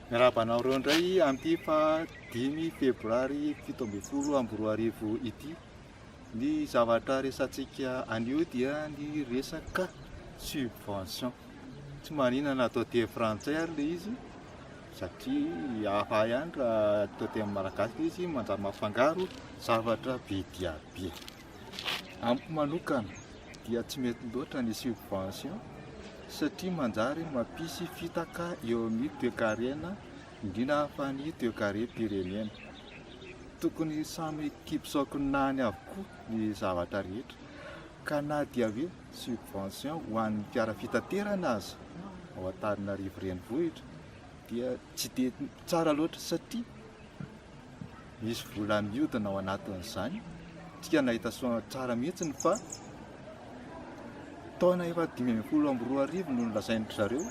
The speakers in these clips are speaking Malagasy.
Miarahaba anareo indray amin'ity faha dimy febroary fito ambin'ny folo amby roa arivo ity. Ny zavatra resantsika anio dia ny resaka subvention. Tsy marina na atao teny frantsay ary ilay izy satria hafa ihany raha atao teny malagasy ilay izy manjary mafangaro zavatra be dia be. Amiko manokana dia tsy mety loatra ny subvention satria manjary mampisy fitaka eo amin'ny toekarena indrindra fa ny toekarem-pirenena. Tokony samy an-kifisaokinany avokoa ny zavatra rehetra ka na dia hoe subvention ho an'ny fiara fitaterana aza ao Antananarivo renivohitra dia tsy dia tsara loatra satria Nisy vola niodina ao anatin'izany, isika nahita soa tsara mihitsy fa taona efa dimy ambin'ny folo amby roa arivo no nolazain-dry zareo,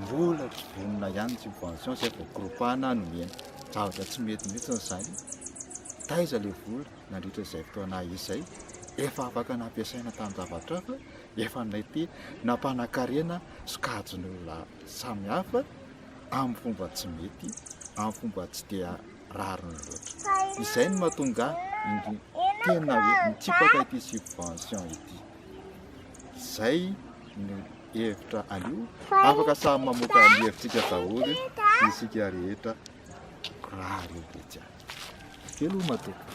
mbola tsy vonona ihany ny subvention izay voakorontana nomena. Zavatra tsy mety mihitsy izany. Taiza ilay vola nandritra izay fotoana izay? Efa afaka nampiasaina tamin-javatra hafa, efa mety nampanakarena sokajin'olona samihafa, amin'ny fomba tsy mety, amin'ny fomba tsy dia rariny loatra. Izay no mahatonga indro tena hoe mitsipaka ity subvention ity. Izay no hevitra anio. Afaka samy mamoaka ny hevitsika daholo isika rehetra raha ireo dia jiaby. Veloma tompoko.